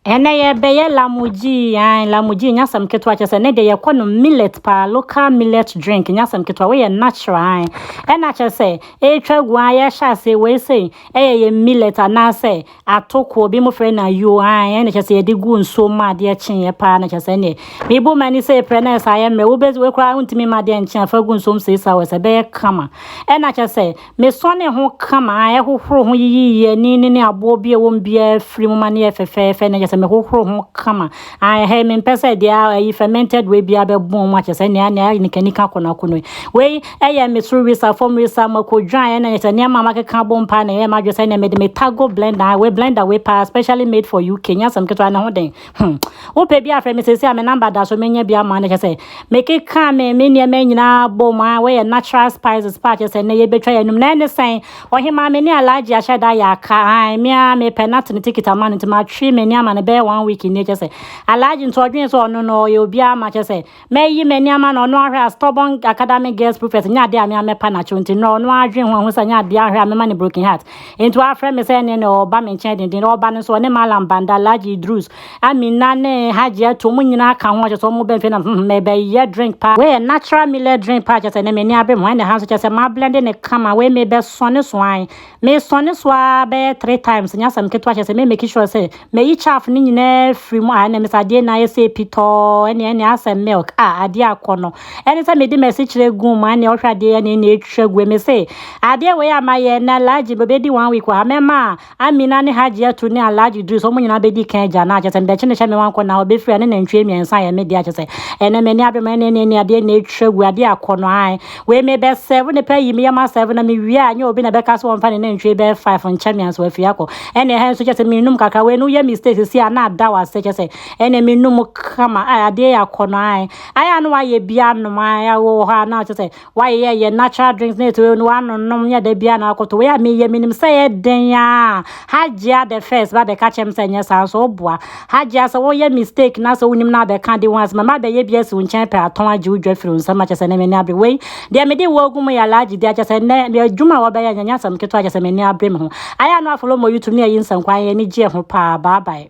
Ɛnɛ yɛbɛyɛ lamuji, ae, lamuji nyɛ asɛm ketewa kyerɛ sɛ ne deɛ yɛkɔ no millet paa, local millet drink nyɛ asɛm ketewa, woyɛ natural ae. Ɛna kyerɛ sɛ ɛretwa agu ae, yɛhyɛ ase wei sei, ɛyɛ yɛ millet anaasɛ atokoɔ, bi mo frɛ no ayuo ae, ɛna kyerɛ sɛ yɛde gu nsuo mu adeɛ kyeeɛ paa na kyerɛ sɛ ɛneɛ. Mebu m'ani sɛ ɛprɛ na ɛsɛ ayɛ mmerɛ, wobɛ wei koraa wontumi ma adeɛ nkye afa gu nsuo mu six hours, ɛbɛyɛ kama. Ɛna kyerɛ sɛ Mesɔnee ho ka maa ɛhohoroo ho yiyii ani no ne aboɔ bi a ɛwɔ mu biara firi mu ma no yɛɛ fɛfɛɛfɛ na kyerɛ sɛ mehohoroo ho kama. Ae, hɛe, mempɛ sɛ deɛ ayi fermented wei biara bɛbɔn mu akyerɛ sɛ nea nea ayɛ nikanika kɔnɔako no. Wei yɛ me soro wisa, fam wisa, mako dwan ɛna kyerɛ sɛ nneɛma a makeka abom paa na ɛyɛɛ m'adwene sɛ ɛnneɛ mede me Tago blender, ae, wei blender wei paa specially made for UK, nyɛ asɛm ketewa, ne ho dɛn? Hmm. Wopɛ bi afrɛ me sɛsi a me number da so menya bi ama no kyɛ sɛ mekeka me me nneɛma nyinaa bɔ mu a wɔyɛ natural spices pa kyɛ sɛ nnɛ yɛbɛtwa yɛnum na ɛne sɛn ɔhemaa me ne alagye ahyɛ da yɛ aka an me a mepɛ nate ne tikit ama no nti matwe me ne ama no bɛyɛ one week nni kyɛ sɛ alagye nti ɔdwene sɛ ɔno no ɔyɛ obiara ma kyɛ sɛ Mɛyi m'ani ama no, ɔno ahwɛ a stubborn acadamic girls prefect nyɛ adeɛ a me ara mɛpa n'akyɛw nti nnɛ ɔno ara dwen ho ahu sɛ nyɛ adeɛ a ahwɛ a mɛma no broken heart. Nti wafrɛ me sɛ ɛneɛ neɛ ɔreba me nkyɛn denden, ɔreba no nso ɔne Mallam Banda, Alhaji Idrus, Amina ne Hajiatu wɔn nyinaa ka ho a kyerɛ sɛ wɔn ba mfie nam hmm merebɛyɛ drink paa. Wei yɛ natural millet drink paa kyerɛ sɛ nnɛ m'ani abere me ho ɛnna ɛha nso kyerɛ sɛ mablende no kama, wei merebɛsɔne so ae. Me sɔne so aa bɛyɛ three times nyɛ asɛm ketewa kyerɛ sɛ me make sure sɛ mayi chaff no nyinaa firi mu aa ɛnɛ mese adeɛ nyinaa ayɛ sɛ pitɔɔ ɛnɛ ɛnɛ asɛ milk aa adeɛ akɔ no ɛne sɛ mede masikyerɛ guu mu ɛnɛ ɔhwɛ adeɛ ɛnɛ ɛnɛ ɛtwa gu mese adeɛ wei a mayɛ ɛnɛ alhaji bɛbɛdi one week wɔ ha mɛma amina ne hajiatu ne alhaji duru sɛ ɔmo nyinaa bɛdi kan agya no akyɛ sɛ mede kyene hyɛ me wankɔ na ɔbɛfiri a ne nantwie mmiɛnsa yɛ me deɛ akyɛ sɛ ɛnɛ m'ani abere ma ɛnɛ ɛnɛ ɛnɛ adeɛ ɛnɛ ɛtwa gu adeɛ akɔ no aa Wei me bɛ sɛɛvo ne pɛ yi me yɛ ma sɛɛvo na me wie a nyɛ obi na bɛ ka so wɔn fa ne nantwie bɛ five nkyɛ me anso afie akɔ ɛne ɛhɛn so kyɛ sɛ me num kakra wei no yɛ mistake sisi a na ada wɔ ase kyɛ sɛ ɛne me num kama a adeɛ yɛ akɔ no ae ayɛ a na wayɛ bi anom ae a wɔ hɔ a na kyɛ sɛ wayɛ yɛ yɛ natural drinks na ɛte wei no wano nom nyɛ da bi a na akɔtɔ wei a me yɛ me nim sɛ yɛ den a Hajia the first ba bɛka kyɛm sɛ nyɛ saa nso woboa Hajia sɛ woyɛ mistake na sɛ wonim na abɛka de ho asɛm a mabɛyɛ bi asi wo nkyɛn pɛ atɔn agye wo dwa firi wo nsam akyɛ sɛ ne m'ani abere wei deɛ mede wo agu mu yɛ alhaji deɛ akyɛ sɛ nɛ adwuma a wɔbɛyɛ nyɛ nyɛ asɛm ketewa akyɛ sɛ m'ani abere me ho ayɛ a na wafolo mɔ youtube ne ayi nsɛnkwan yɛ ani gyeɛ ho paa bye bye.